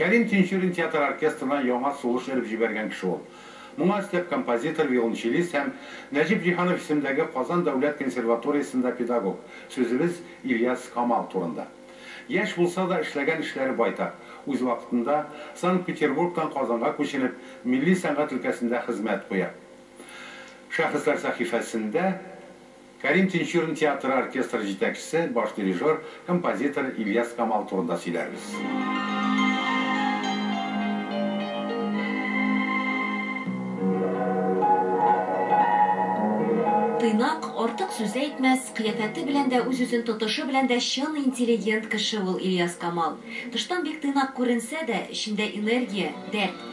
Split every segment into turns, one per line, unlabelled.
Кәрим Тинчурин театр оркестрына яңа сулыш өреп җибәргән кеше ул. Моңа өстәп композитор, виолончелист һәм Нәҗип Җиһанов исемендәге Казан дәүләт консерваториясендә педагог, сүзебез Ильяс Камал турында. Яшь булса да, эшләгән эшләре байтак. Үз вакытында Санкт-Петербургтан Казанга күченеп, милли сәнгать өлкәсендә хезмәт куя. Шәхесләр сәхифәсендә. Кәрим Тинчурин театры оркестры җитәкчесе, баш дирижер, композитор Ильяс Камал турында сөйләрбез.
Тыйнак, артык сүз әйтмәс, кыяфәте белән дә, үз-үзен тотышы белән дә чын интеллигент кеше ул Ильяс Камал. Тыштан бик тыйнак күренсә дә, эчендә энергия, дәрт.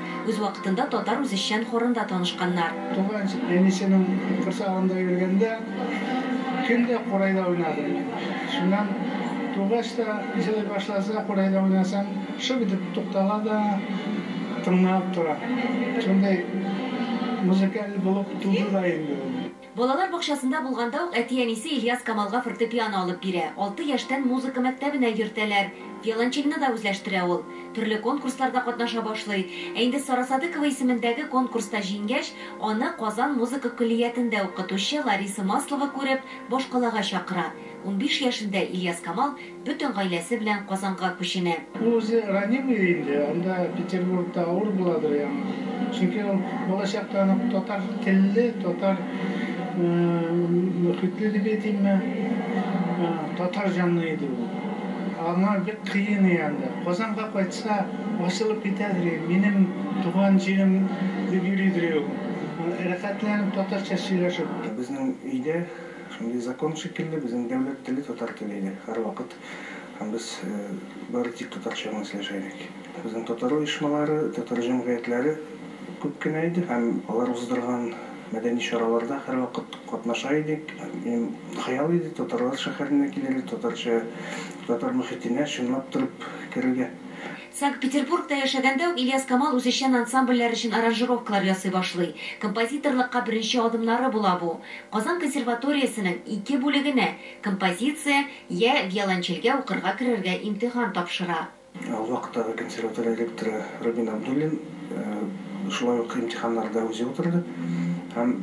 Үз вакытында татар үзешчән хорында танышканнар. Туган
әнисенең корсагында йөргәндә, көн дә курайда уйнады иде. Шуннан тугач та, җылый башласа, курайда уйнасаң, шып итеп туктала да тыңланып тора. Шундый музыкаль булып туды да инде ул. Балалар
бакчасында булганда ук әти-әнисе Ильяс Камалга фортепиано алып бирә, алты яшьтән музыка мәктәбенә йөртәләр. Виолончельне да үзләштерә ул. Төрле конкурсларда катнаша башлый. Ә инде Сара Садыкова исемендәге конкурста җиңгәч, аны Казан музыка көллиятендә укытучы Лариса Маслова күреп, башкалага чакыра. Унбиш яшендә Ильяс Камал бөтен гаиләсе белән Казанга күченә. Ул үзе ранимый
инде, анда Петербургта авыр буладыр яңа, чөнки ул балачактан ук татар телле, татар мөхитле дип әйтимме, татар җанлы иде ул. Аңа бик кыен и анда. Казанга кайтса, ачылып китәдер и, минем туган җирем дип йөридер и ул, рәхәтләнеп татарча сөйләшеп. Безнең өйдә
Шундый закон шикелле, безнең дәүләт теле татар теле иде һәрвакыт һәм без бары тик татарча гына сөйләшә идек. Безнең татар оешмалары, татар җәмгыятьләре күп кенә иде һәм алар уздырган мәдәни чараларда һәрвакыт катнаша идек. Минем хыял иде татарлар шәһәренә килергә, татарча, татар мөхитенә чынлап торып керергә. Санкт-Петербургта
яшәгәндә үк Ильяс Камал үзешчән ансамбльләр өчен аранжировкалар ясый башлый. Композиторлыкка беренче адымнары була бу. Казан консерваториясенең ике бүлегенә, композиция, йә виолончельгә укырга керергә имтихан тапшыра. Ул вакыттагы
консерватория ректоры Рубин Абдуллин шулай ук имтиханнарны да үзе утырды һәм,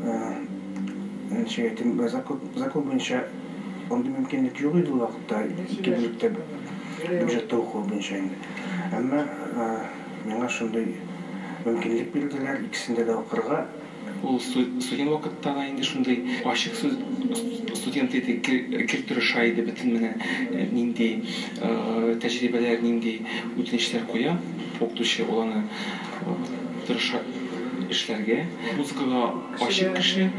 ничек әйтим, закон буенча, Андый мөмкинлек юк иде ул вакытта, ике бүлектә бюджетта укуы буенча инде. Әмма миңа шундый мөмкинлек бирделәр, икесендә дә укырга. Ул
студент вакытта да инде шундый ачык сүз студент иде, гел тырыша иде, бөтен менә нинди тәҗрибәләр, нинди үтенечләр куя укытучы, ул аны тырыша эшләргә. Музыкага. Ачык кеше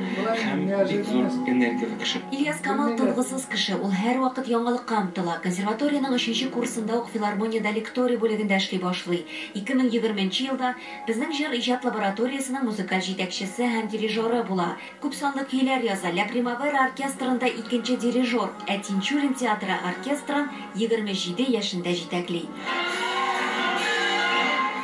һәм бик зур энергияле кеше. Ильяс Камал тынгысыз
кеше, ул һәрвакыт яңалыкка омтыла. Консерваториянең өченче курсында ук филармониядә лекторий бүлегендә эшли башлый. 2020 нче елда Безнең җыр иҗат лабораториясенең музыкаль җитәкчесе һәм дирижеры була. Күпсанлы көйләр яза, Ля Примавера оркестрында икенче дирижер, ә Тинчурин театры оркестрын, Егерме җиде яшендә җитәкли.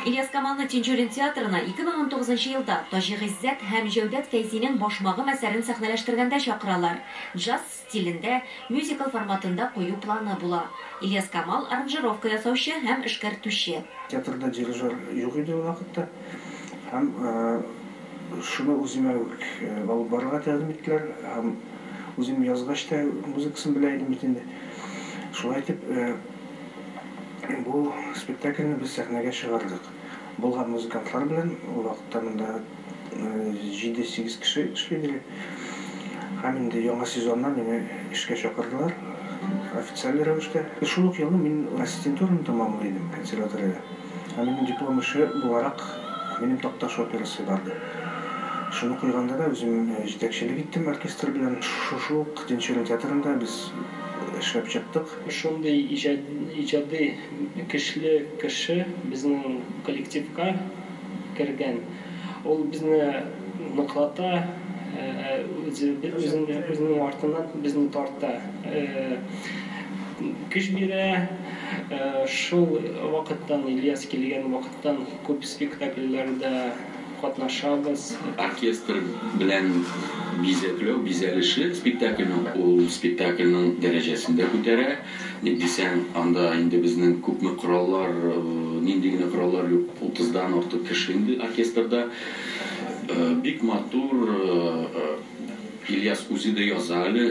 Ильяскамалны Тинчурин театрына 2019 нчы елда Таҗи Гыйззәт һәм Җәүдәт Фәйзинең Башмагым әсәрен сәхнәләштергәндә чакыралар. Джаз стилендә, мюзикл форматында кую планы була. Ильяскамал, аранжировка ясаучы һәм эшкәртүче. Театрда дирижер
юк иде ул вакытта һәм. Шуны үземә үк алып барырга тәкъдим иттеләр һәм үзем язгач та музыкасын белә идем бит инде. Шулай итеп, бу спектакльне без сәхнәгә чыгардык. Болгар музыкантлары белән, ул вакытта монда җиде-сигез кеше эшли иде әле. Һәм инде яңа сезоннан мине эшкә чакырдылар официаль рәвештә. Шул ук елны мин ассистентураны тәмамлый идем консерваториядә. Ә минем диплом эше буларак минем Такташ операсы барды. Шуны куйганда да үзем җитәкчелек иттем оркестр белән. Шушы ук Тинчурин театрында без эшләп чыктык. Шундый
иҗади көчле кеше безнең коллективка кергән. Ул безне ныклата, үзенең артыннан безне тарта, көч бирә. Шул вакыттан, Ильяс килгән вакыттан күп спектакльләрдә катнашабыз. Оркестр
белән бизәкләү, бизәлеше спектакльнең, ул спектакльнең дәрәҗәсен дә күтәрә. Ник дисәң, анда инде безнең күпме кораллар, нинди генә кораллар юк, утыздан артык кеше инде оркестрда. Бик матур, Ильяс үзе дә яза әле,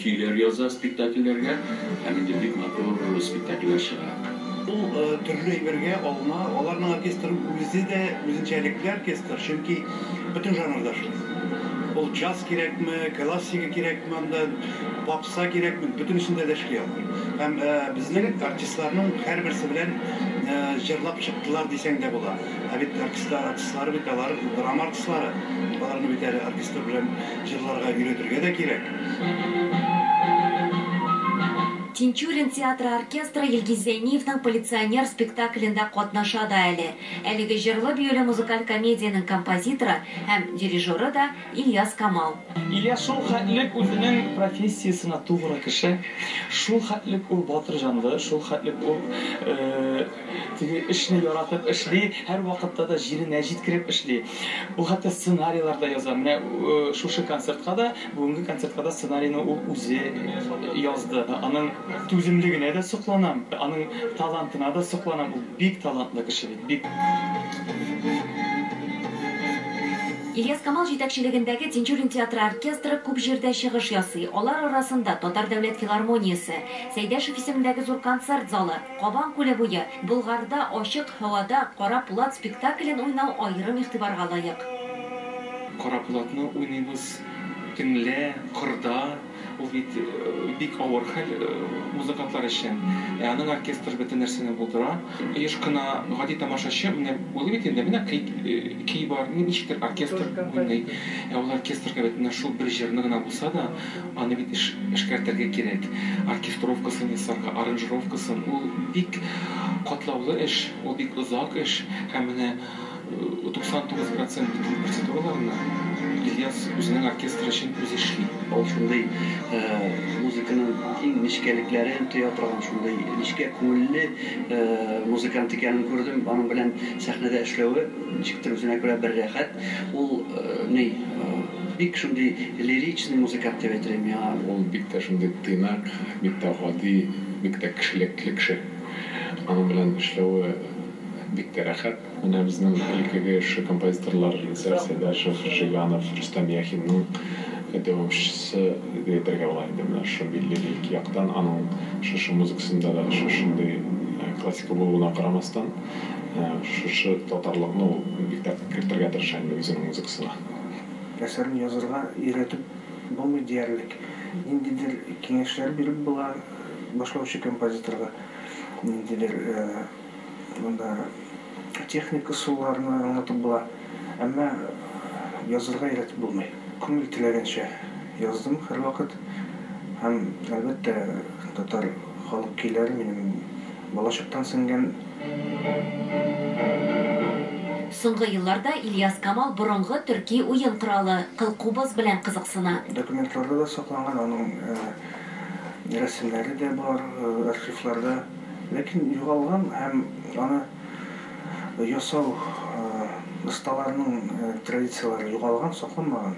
көйләр яза спектакльләргә һәм инде бик матур спектакльләр чыга. Ул
төрле әйбергә алына, аларның оркестры үзе дә үзенчәлекле оркестр, чөнки бөтен жанрда эшли. Ул джаз кирәкме, классика кирәкме анда, попса. Кыса кирәк бит, бөтенесендә дә эшли ул. Һәм безнең артистларның һәрберсе белән җырлап чыктылар дисәң дә була. Ә бит артистлар артистлар бит, алар драма артистлары. Аларны бит әле оркестр белән җырларга өйрәтергә дә кирәк.
Тинчурин театры оркестры Илгиз Зәйниевның Полиционер спектаклендә катнаша да әле. Әлеге җырлы-биюле музыкаль комедиянең композиторы һәм дирижеры да, Ильяс Камал. Ильяс шул хәтлек
үзенең профессиясенә тугры кеше, шул хәтлек ул батыр җанлы, шул хәтлек ул теге эшне яратып эшли, һәрвакытта да җиренә җиткереп эшли. Ул хәтта сценарийлар да яза. Менә шушы концертка да, бүгенге концертка да сценарийны ул үзе язды. Аның түземлегенә дә сокланам, аның талантына да сокланам, ул бик талантлы кеше бит.
Ильяс-Камал җитәкчелегендәге Тинчурин театры оркестры күп җирдә чыгыш ясый. Алар арасында, Татар дәүләт филармониясе, Сәйдәшев исемендәге зур концерт залы, Кабан күле буе, Болгарда, Ачык һавада, Кара пулат спектаклен уйнау аерым игътибарга лаек. Кара
пулатны уйныйбыз төнлә, кырда. Ул бит бик авыр хәл музыкантлар өчен. Ә аның оркестры бөтен нәрсәне булдыра. Еш кына гади тамашачы менә уйлый бит инде, менә клип, көй бар, ничектер оркестр уйный. Ә ул оркестрга бит менә шул бер җырны гына булса да, аны бит эшкәртергә кирәк. Оркестровкасын ясарга, аранжировкасын. Ул бик катлаулы эш, ул бик озак эш. Һәм менә. 99 процент бетлек процедураларны Ильяс үзенең оркестры өчен үзе эшли. Ул шундый
музыканың иң нечкәлекләрен тоя торган, шундый нечкә күңелле музыкант икәнен күрдем. Аның белән сәхнәдә эшләве ничектер үзенә күрә бер рәхәт. Ул ни, бик шундый лиричный музыкант дип әйтер идем миңа. Ул бик тә шундый
тыйнак, бик тә гади, бик тә кешелекле кеше. Аның белән эшләве. Бик тә рәхәт. Менә безнең элеккеге эшче композиторлар Исәк Сәйдәшев, Жиганов, Рөстәм Яхинның дәвамчысы дип әйтергә була инде менә шушы милли лирик яктан. Аның шушы музыкасында да шушындый классика булуына карамастан, шушы татарлыкны ул бик тә кертергә тырыша инде үзенең музыкасына. Әсәрне
язырга өйрәтеп булмый диярлек. Ниндидер киңәшләр биреп була башлаучы композиторга, ниндидер Монда техник ысулларны аңлатып була, әмма язырга өйрәтеп булмый. Күңел теләгәнчә яздым һәрвакыт һәм, әлбәттә, татар халык көйләре минем балачактан сеңгән.
Соңгы елларда Ильяс Камал борынгы төрки уен коралы, кылкубыз белән кызыксына. Документларда да
сакланган, аның рәсемнәре дә бар архивларда. Ләкин югалган һәм аны ясау осталарының традицияләре югалган, сакланмаган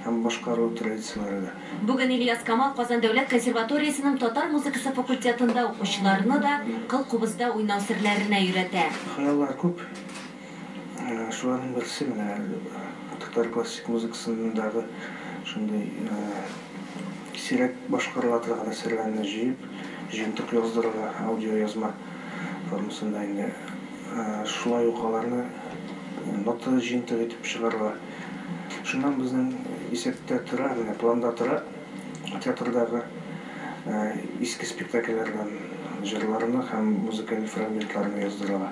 һәм башкару традицияләре дә. Бүген Ильяс Камал
Казан дәүләт консерваториясенең татар музыкасы факультетында укучыларны да кыл кубызда уйнау серләренә өйрәтә. Хыяллар күп.
Шуларның берсе менә әле татар классик музыкасындагы шундый сирәк башкарыла торган әсәрләрне җыеп, җыентык яздырырга, аудиоязма формасында инде. Шулай ук аларны нота җыентыгы итеп чыгарырга. Шуннан безнең исәптә тора, менә планда тора, театрдагы иске спектакльләрдән җырларны һәм музыкаль фрагментларны яздырырга.